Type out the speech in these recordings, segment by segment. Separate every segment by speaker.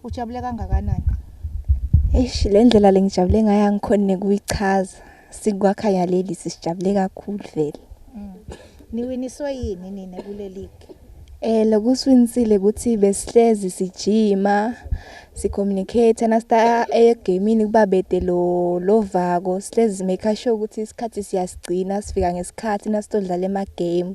Speaker 1: Ujabule kangakanani? Eish
Speaker 2: le ndlela lengijabule ngayo angikhoni nekuyichaza. Sikwakha yaleli sisijabule kakhulu vele. Mm.
Speaker 1: Niwiniswe yini nina kule league? Eh lokusiwinisile
Speaker 2: ukuthi besihlezi sijima sicommunicate nasta egamini kuba bede lo lovako sihlezi make sure ukuthi isikhathi siyasigcina sifika ngesikhathi nasitodlala ema game.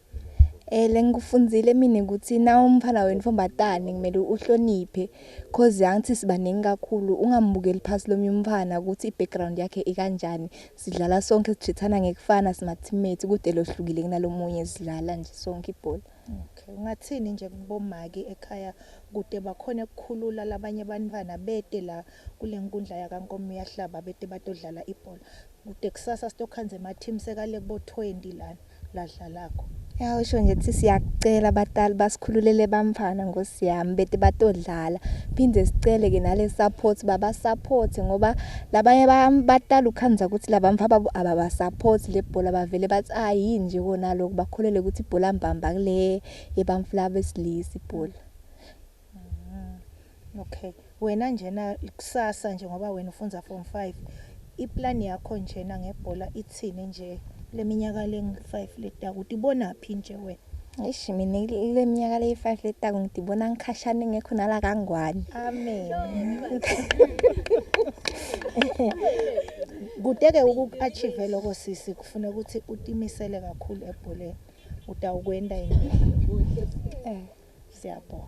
Speaker 1: Eh
Speaker 2: lengikufundile mina ukuthi na umfana wenfombatane kumele uhloniphe cause yangithi sibaningi kakhulu ungambukeli phasi lomnye umfana ukuthi i-background yakhe ikanjani sidlala sonke sijithana ngekufana simathimate kude lohlukile kunalomunye sidlala nje sonke ibhola okay ungathini
Speaker 1: nje kubomaki ekhaya kude bakhona ukukhulula labanye abantwana bete la kule nkundla yakankomo uyahlaba bete batodlala ibhola kude kusasa sitokhanza ema-team sekale kubo-20 lana Lahla lakho. Ya usho nje
Speaker 2: ukuthi siyakucela abatali basikhululele bamfana ngosi yami bete batodlala phinde sicele ke nale support baba support ngoba labanye batala ukhanza ukuthi laba mfa babo ababa support le bhola bavele bathi ah yini nje kona lokho bakholele ukuthi ibhola mbamba kule yebamfla besilisa ibhola
Speaker 1: Mm, okay. Wena njena kusasa nje ngoba wena ufunza form 5. Iplan yakho njena ngebhola ithini nje leminyaka lengu-5 leta ukuthi ibona phi nje wena? Eish mina
Speaker 2: ile minyaka le 5 leta ngidibona ngikhashana ngekho nala kangwane. Amen.
Speaker 1: Kudeke uku-achieve lokho sisi kufuna ukuthi utimisele kakhulu ebholeni. utawukwenta yini eh siyabonga